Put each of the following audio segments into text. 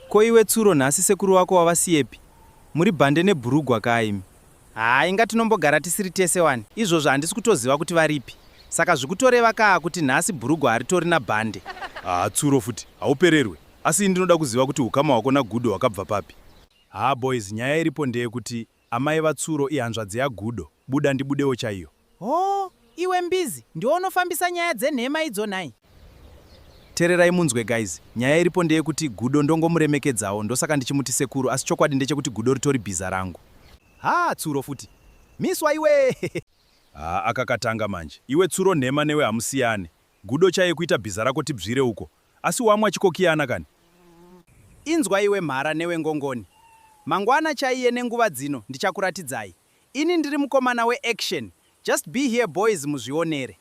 Ko iwe Tsuro nhasi sekuru wako wavasiyepi? Muri bhande nebhurugwa kaa imi. Haa inga tinombogara tisiri tese wani. Izvozvo handisi kutoziva kuti varipi. Saka zvikutoreva kaa kuti nhasi bhurugwa haritori nabhande. Haa Tsuro futi haupererwe. Asi ini ndinoda kuziva kuti hukama hwako naGudo hwakabva papi? Haa boys nyaya iripo ndeyekuti Amai vaTsuro ihanzvadzi yaGudo, buda ndibudewo chaiyo. Hoo iwe mbizi ndiwe unofambisa nyaya dzenhema idzo nhai. Tererai munzwe guys, nyaya iripo ndeyekuti Gudo ndongomuremekedzawo ndosaka ndichimuti sekuru asi chokwadi ndechekuti Gudo ritori bhiza rangu. Haa Tsuro futi. Miswa iwee. Haa aka katanga manje. Iwe Tsuro nhema newe hamusiyane. Gudo chaiye kuita bhiza rako tibzwire uko asi wamwa chikokiyana kani. Inzwa iwe mhara newe ngongoni. Mangwana chaiye nenguva dzino ndichakuratidzai. Ini ndiri mukomana we action just be here boys muzvionere.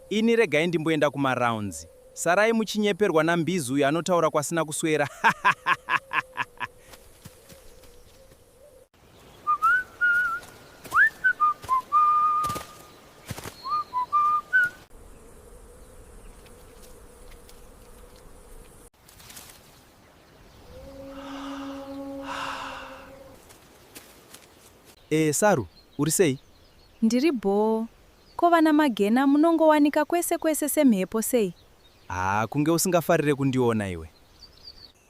Ini regai ndimboenda kuma rounds. Sarai muchinyeperwa na mbizi uyo anotaura kwasina kuswera hahahahaha. E, Saru, uri sei? Ndiri bhoo. Ko vana Magena munongowanika kwese kwese semhepo sei? Haa, kunge usingafarire kundiona iwe.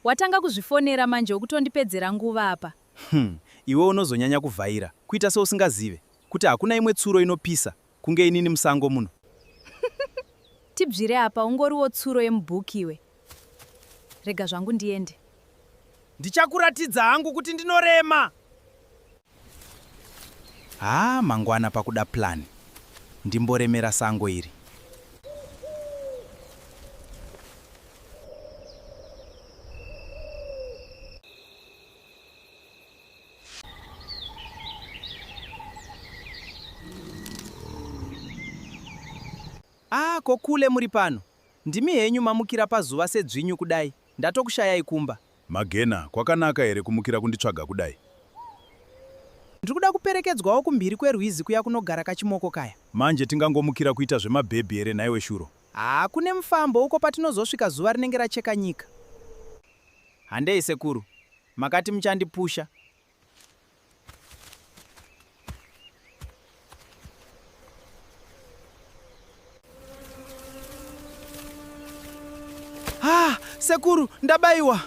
Watanga kuzvifonera manje ukutondipedzera nguva apa. Umm iwe unozonyanya kuvhaira kuita seusingazive kuti hakuna imwe tsuro inopisa kunge inini musango muno. Tibvire apa ungoriwo tsuro yemubook iwe. Rega zvangu ndiende. Ndichakuratidza hangu kuti ndinorema. Haa mangwana pakuda plan ndimboremera sango iri. Ah, ko kule muri pano. Ndimi henyu mamukira pazuva sedzvinyu kudai. Ndatokushayai kumba. Magena, kwakanaka here kumukira kunditsvaga kudai? Ndiri kuda kuperekedzwawo kumhiri kwerwizi kuya kunogara kachimoko kaya. Manje tingangomukira kuita zvemabhebhi here nhaiwe Shuro? Haa, kune mufambo uko patinozosvika zuva rinenge racheka nyika. Handei sekuru, makati muchandipusha. Ah, sekuru, ndabaiwa.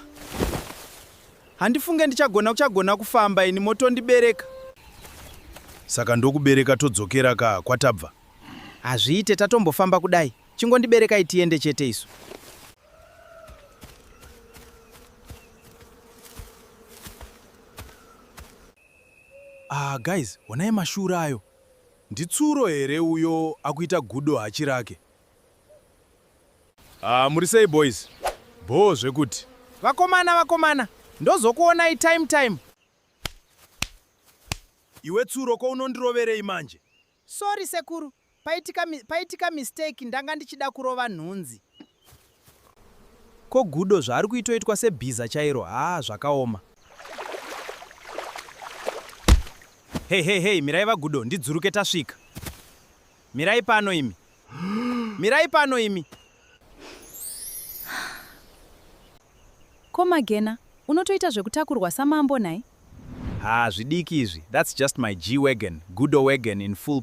Handifunge ndichagona kuchagona kufamba ini motondibereka. Saka ndokubereka todzokera ka kwatabva. Hazviite tatombofamba kudai. Chingondiberekai tiende chete isu. Ah, guys, honai mashura ayo. Nditsuro here uyo akuita gudo hachi rake? Ah, muri sei boys? Bhoo zvekuti. Vakomana, vakomana, ndozokuonai time time. Iwe tsuro ko unondiroverei manje? Sorry sekuru paitika, paitika mistake ndanga ndichida kurova nhunzi. Ko Gudo zvaari kuitoitwa sebhiza chairo haa zvakaoma. Hey hey hey mirai vaGudo ndidzuruke tasvika. Mirai pano imi. mirai pano imi ko magena unotoita zvekutakurwa samambo nhai ha zvidiki izvi that's just my g wagon gudo wagon in full